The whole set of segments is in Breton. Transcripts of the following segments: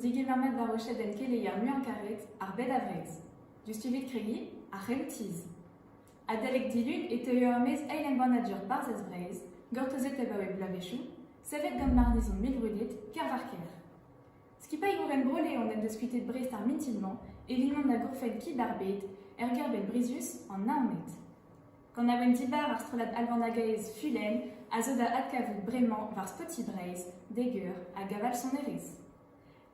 Digevernet d'ar wechenn keleier muiañ-karet, ar bed-a-wreg, diouzh tullid kregiñ ar c'heloù-tizh. Adalek dilun e teuio er-maez eil embannadur Barzhez Breizh, gortozet abaoe bloavezhioù, savet gant marnizon mil brudet Kervarker. Skipailhour Bro-Leon en deus kuitet Brest ar mintin-mañ e lignon da gourfenn Kib ar Bed er gêr-benn brizius an Naoned. Kanaouenn dibar ar strollad albanagaez Fulenn a zo da adkavout bremañ war Spotify Breizh, Deger hag aval sonerezh.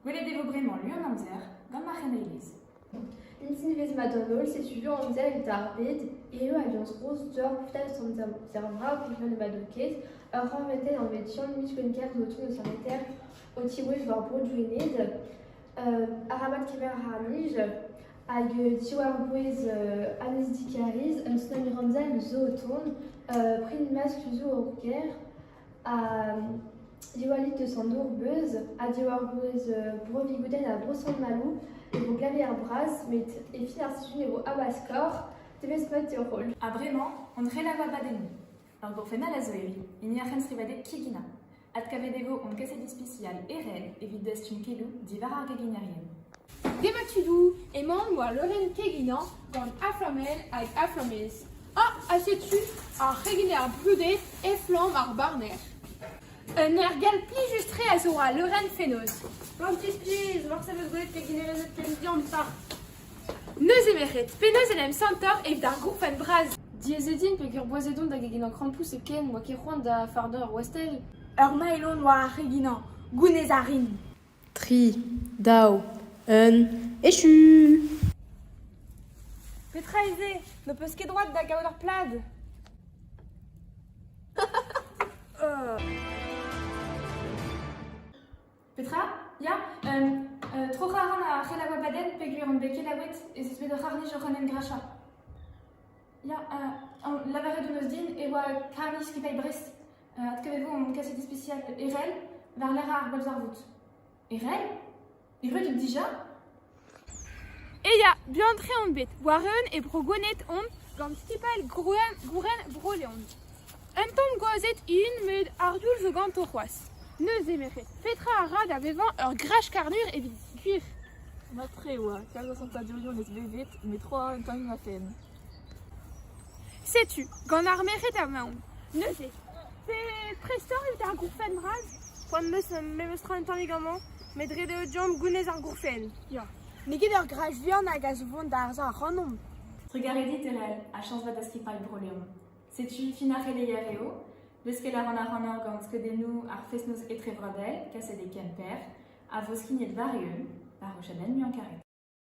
Gwelet e vo bremañ lu an amzer gant Marc'henn Elez. Mintin evezh mat d'an holl, setu lu amzer e darbed eo aliañs Rose Dior Flash Santa Amzer Vras Viviane Madoquez, ur rañvatel anvet Jean Michwenker notin eus an eter o tiwezh war bro Douenez, arabat kemer ar nij, Hag diwar-bouez Agnès Dicariz, un tsunami ramzal zo o tont, print maskl zo o ger, ha Diwallit de Sandour beuz, ha diwar-bouez Bro-Vigoudenn ha Bro-Sant-Maloù e vo glavier bras, met e fin ar sizhun e vo habaskor, devez mat d'ur roll. Ha bremañ, hon relaf abadennoù. Ur gourfennad a zo evit hini ar c'henstrivadeg Kigina. Adkavet e vo hon kaset ispisial Ered evit dastum keloù diwar ar geginerien. Demat tudoù emaon war leurenn keginañ gant Aflamel hag Aflamez. Ha ha setu ar c'heginer brudet Eflamm ar barner. Un ergal plijus-tre a zo al leurenn fenoz. Plantez-plij, morse 'm eus gwelet keginerezed ken diampart. Neuze merc'hed, penaos en em santoc'h evit ar gourfenn bras? Diaes eo din peger boazet on da geginañ krampouezh hepken, n'oa ket c'hoant da fardañ ur wastell. Ur mailh on war ar c'heginañ, gounez a rin. Tri, daou, un, echu! Petra eo se ? N'ho peus ket droad da gaout ur plad ? Petra ? Ya, um uh tro-c'harr a c'helaouañ pladenn peogwir on bet kelaouet ez eus bet ur c'harr-nij oc'h en em grachañ. Ya, uh lavaret hon eus din e oa karr-nij skipailh Brest. Adkavet vo hon kaset ispisial Erell war-lerc'h ar bolzarvoud. Erell ? Erruet out dija ? Ya, buan-tre on bet, war-eeun e Bro-Gwened omp gant skipailh Gouren Bro-Leon. Un tamm gwazed int met ar youl zo ganto c'hoazh. Neuze merc'hed, petra a ra da vevañ ur grach-karnur evit gwir ? Mat-tre e oa, kalz a santadurioù 'neus bevet met tro a ra un tammig ma fenn. Setu, gant ar merc'hed emaomp. Neuze, prest oc'h evit ar gourfenn bras ? Poan 'm eus memestra un tammig amañ. met ret eo deomp gounez ar gourfenn. Ya. N'eo ket ur graj vihan hag a zo vont da arzañ ac'hanomp. Trugarez dit, Erell, ha chañs vat da skipailh Bro-Leon. Setu fin ar c'heleizher eo. Leuskel a ran ac'hanoc'h gant skeudennoù ar fest-noz etrevrodel, kaset e Kemper, a vo skignet war-eeun, war o chadenn muiañ-karet.